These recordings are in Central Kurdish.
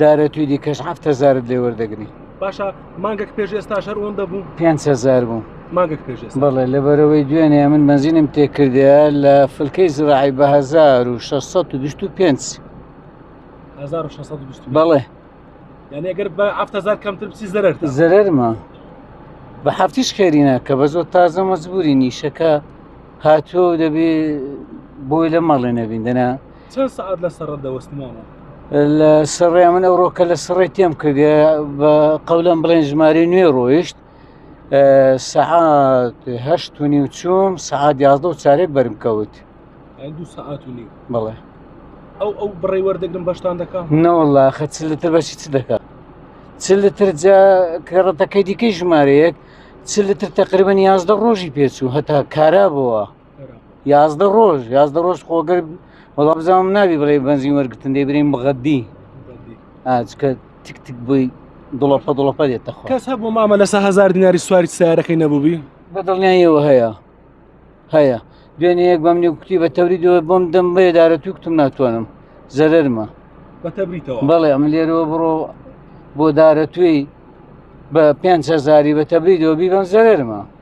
دارە توی دیکەش هەفت هزارت لێ وەردەگری باشە مانگەک پێش ئێستا شەر ئەوەندە بوو پێنج هزار بوو مانگەک پێش ئێستا بەڵێ لەبەرەوەی دوێنێ من بەنزینم تێکردەیە لە فلکەی زراعی بە 1625 1625 بەڵێ یعنی ئەگەر بە 7000 کەمتر بچی زەرەر زەرەرمە بە هەفتیش خێرینە کە بە زۆر تازە مەزبوری نیشەکە هاتووە و دەبێ بۆی لە مەڵێ نەبین دەنا چەند سەعات لە سەڕە دەوەستی مامە؟ لە سڕێ من ئەو ڕۆکە لە سڕێ تێم کرد بە قەولم بڵێن ژماری نوێ ڕۆیشت سەعات هەشت و نی و چوم سەعات یازدە و چارێک بەرم کەوت دو سەعات و نی بڵێ ئەو ئەو بڕی وەردەگرم بەشتان دەکات نەوەله خە چ لەتر بەشی چ دەکات چ لەتر جا کەڕەتەکەی دیکەی ژمارەیەک چ لەتر تقریبن یازدە ڕۆژی پێچوو هەتا کارا بووە یازدە ڕۆژ یازدە ڕۆژ خۆگەر وەڵا بزانم ناوی بڵێ بەنزین وەرگتن دەی برین بغەدی ئاچکە تک تک بووی دڵەپە دڵەپە دێتە خۆ کەس هەبوو مامە لەسە هزار دیناری سواری سارەکەی نەبووبی بە دڵنیایەوە هەیە هەیە دوێنێ یەک بەم نێ کوتی بە تەوری دوێ بۆم دەم بێدارە تو کوتم ناتوانم زەرمە بەتەبریتەوە بەڵێ ئەم لێرەوە بڕۆ بۆ دارە توێی بە پێ هزاری بە تەبری دۆبی بەم زەرمە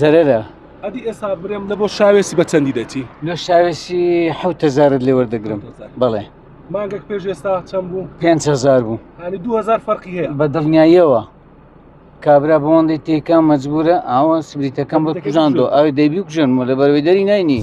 زەرەرە ئەدی ئێستا برێم لە بۆ شاوێسی بە چەندی دەچی لە شاوێسی حوتەزارت لێ وەردەگرم بەڵێ مانگەک پێش ئێستا چەند بوو پێهزار بوو هەنی 2000 فەرقی هەیە بە دڵنیاییەوە کابرا بۆندی تێکە مەجبورە ئاوە سبریتەکەم بە کوژاندۆ ئەوی دەبی کوژن و لە بەروی دەری نینی.